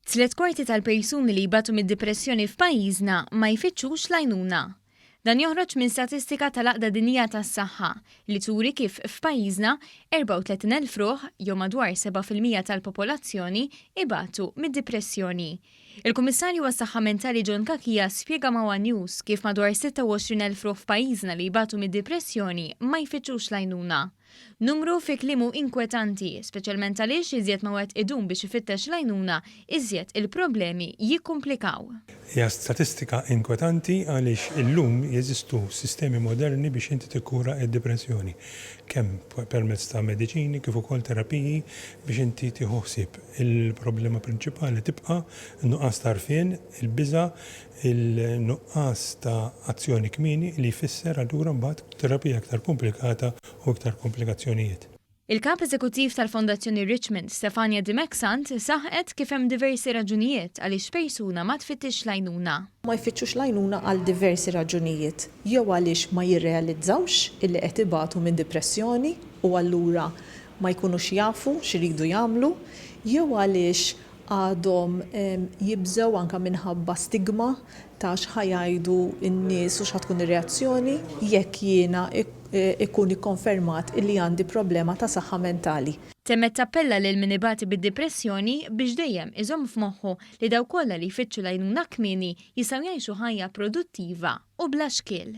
Tliet kwarti tal-persuni li jbatu mid-dipressjoni f'pajjiżna ma jfittxux l-għajnuna. Dan joħroġ minn statistika tal-Għaqda Dinjija tas-Saħħa li turi kif f'pajjiżna 34,000 ruħ, jew madwar 7 fil-mija tal-popolazzjoni, ibatu mid-dipressjoni. Il-Kummissarju għas-Saħħa Mentali John Cachia spjega ma' one News kif madwar 26,000 ruħ f'pajjiżna li jbatu mid-dipressjoni ma jfittxux l-għajnuna. Numru fi kliemu inkwetanti, speċjalment għaliex iżjed ma wieħed idum biex ifittex l-għajnuna, iżjed il-problemi jikkumplikaw. Hija statistika inkwetanti għaliex illum jeżistu sistemi moderni biex inti tikkura id-dipressjoni, kemm permezz ta' mediċini kif ukoll terapiji biex inti tieħu ħsieb. Il-problema prinċipali tibqa' n-nuqqas t'għarfien, il-biża' il-nuqqas ta' azzjoni kmieni li jfisser allura mbagħad terapija iktar komplikata u iktar komplikazzjonijiet. Il-Kap Eżekuttiv tal-Fondazzjoni Richmond, Stefania Di Maxant, saħqet kif hemm diversi raġunijiet għaliex persuna ma tfittixx l-għajnuna. Ma jfittxux l-għajnuna għal diversi raġunijiet, jew għaliex ma jirrealizzawx illi qed ibatu minn dipressjoni u allura ma jkunux jafu x'iridu jagħmlu, jew għaliex għadhom jibżgħu anke minħabba stigma ta' x'ħa jgħidu n-nies u x'ħa tkun ir-reazzjoni jekk jiena jkun ikkonfermat illi għandi problema ta' saħħa mentali. Temmet tappella lil min ibati bid-dipressjoni biex dejjem iżomm f'moħħu li dawk kollha li jfittxu l-għajnuna kmieni jistgħu jgħixu ħajja produttiva u bla xkiel.